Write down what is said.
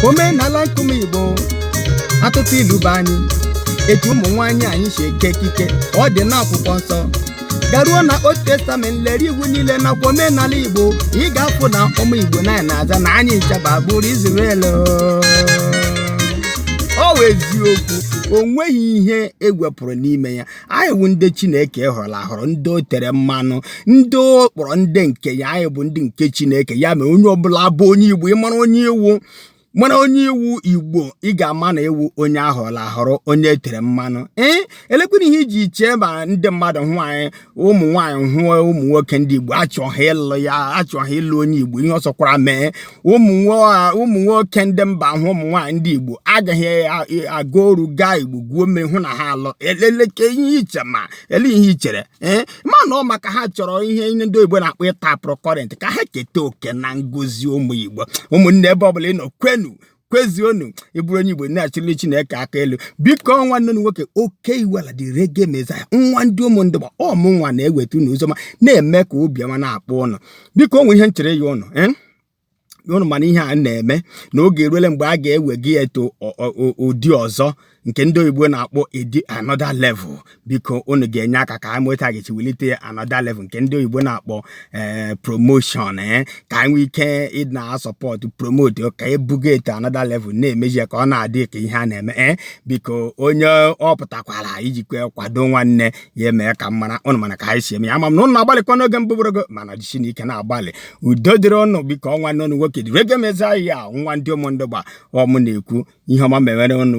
omenala nke ụmụ igbo atụtụ ilu bụ anyị etu ụmụ nwaanyị anyị si eke ekike ọ dị n'akwụkwọ nsọ garuo na old testament lere iwu niile nakwa omenala igbo ị ga-afụ na ụmụ igbo na anyị na-aza na anyị ncha bụ agbụrụ Israel ọ wụ eziokwu o nweghị ihe e wepụrụ n'ime ya anyị bụ ndị chineke họrọ ahọrọ ndị o tere mmanụ ndị ọ kpọrọ ndị nke ya anyị bụ ndị nke chineke ya mere onye ọbụla bụ onye igbo ị mara onye ị wụ mara onye ị wụ igbo ị ga-ama na ị wụ onye a họrọ ahọrọ onye e tere mmanụ ee elekwere ihe i ji chee ma ndị mmadụ hụ anyị ụmụ nwaanyị hụọ ụmụ nwoke ndị igbo achọ ha ịlụ ya achọ ha ịlụ onye igbo ihe ọ sọkwara mee ụmụ nwoke ndị mba hụ ụmụ nwaanyị ndị igbo aga ha aga oru gaa igbo gwuo mmiri hụ na ha alụọ eleleke ihe i che ma ele ihe i chere ee ma na ọ maka ha chọrọ ihe ndị oyibo na-akpọ ịtapụrụ current ka ha keta oke na ngozi ụmụ igbo ụmụnne ebe ọbụla ị nọ kwenu kwezionu ị bụrụ onye igbo na-achịlị chineke aka elu biko nwanne unu nwoke oke iwela the reggae messiah nwa ndị ụmụndụgba ọ mụ nwa na-eweta unu ozi ọma na-eme ka obi ọma na-akpọ unu biko o nwe ihe nchere ya unu eh? unu ma na ihe a na-eme na oge eruole mgbe a ga-ewega ya to ụdị ọzọ nke ndị oyibo na-akpọ edi another level biko unu ga-enye aka ka anyị nweta ga-eji welite another level nke ndị oyibo na-akpọ eh, promotion eh? ka anyị nwee ike ịna support promote ka ebuga ya to another level na-emeji ka ọ na-adị ka ihe a na-eme biko onye ọ pụtakwara ijikwa kwado nwanne ya emee ka m mara unu ma na ka anyị si eme ya ama m na unu na-agbalịkwa n'oge mbụ bụrụgo mana jisinụ ike na-agbalị udo dịrị unu biko ọ nwanne unu nwoke the reggae messiah nwa ndị ụmụndụgba ọ mụ na-ekwu ihe ọma mewere unu